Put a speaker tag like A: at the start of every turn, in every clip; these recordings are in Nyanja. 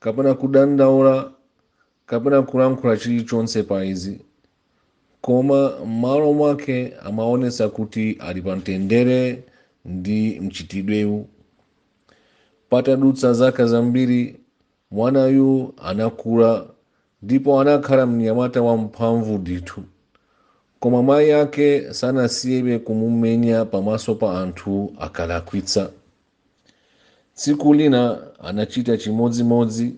A: kapena kudandaula, kapena kulankhula chilichonse pa izi, koma m'malo mwake amaonetsa kuti ali pamtendere ndi mchitidwewu. Patadutsa zaka zambiri, mwanayu anakula ndipo anakhala mnyamata wamphamvu ndithu. Koma mayi ake sanasiyebe kumumenya pamaso pa anthu akalakwitsa. tsiku lina anachita chimodzimodzi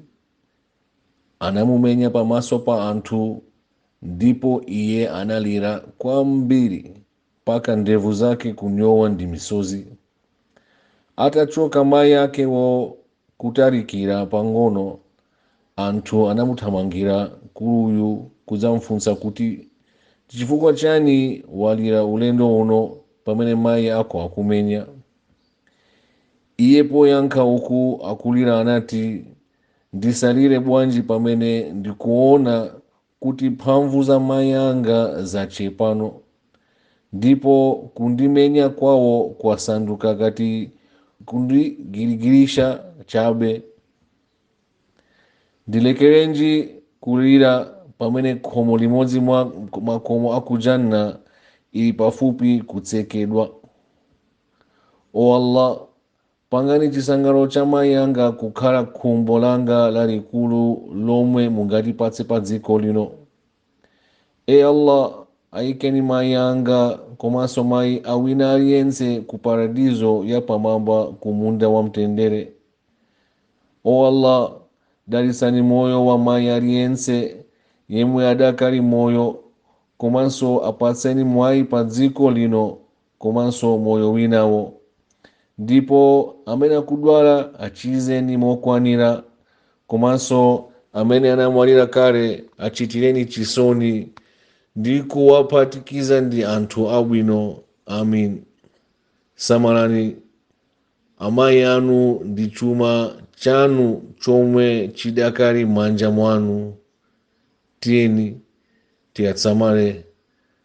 A: anamumenya pamaso pa anthu ndipo iye analira kwambiri mpaka ndevu zake kunyowa ndi misozi atachoka mayi akewo kutalikira pang'ono anthu anamuthamangira mkuluyu kudzamfunsa kuti chifukwa chiyani walira ulendo uno pamene mayi ako akumenya Iye poyankha uku akulira anati, Ndisalire bwanji pamene ndikuona kuti mphamvu za mayi anga zachepa, no, ndipo kundimenya kwawo kwasanduka ngati kundigirigirisha chabe? Ndilekerenji kulira pamene khomo limodzi mwa makomo a ku Jannah ili pafupi kutsekedwa? o allah pangani chisangalalo cha mayi anga kukhala khumbo langa lalikulu lomwe mungatipatse pa dziko lino o allah ayikeni mayi anga komanso mayi awina aliyense ku paradizo yapamwamba ku munda wa mtendere o allah dalitsani moyo wa mayi aliyense yemwe adakali moyo komanso apatseni mwayi pa dziko lino komanso moyo winawo. Ndipo amene akudwala achizeni mokwanira, komanso amene anamwalira kale achitireni chisoni ndi kuwaphatikiza ndi anthu abwino. Amin. Samalani amayi anu ndi chuma chanu chomwe chidakali m'manja mwanu. Tiyeni tiwasamale.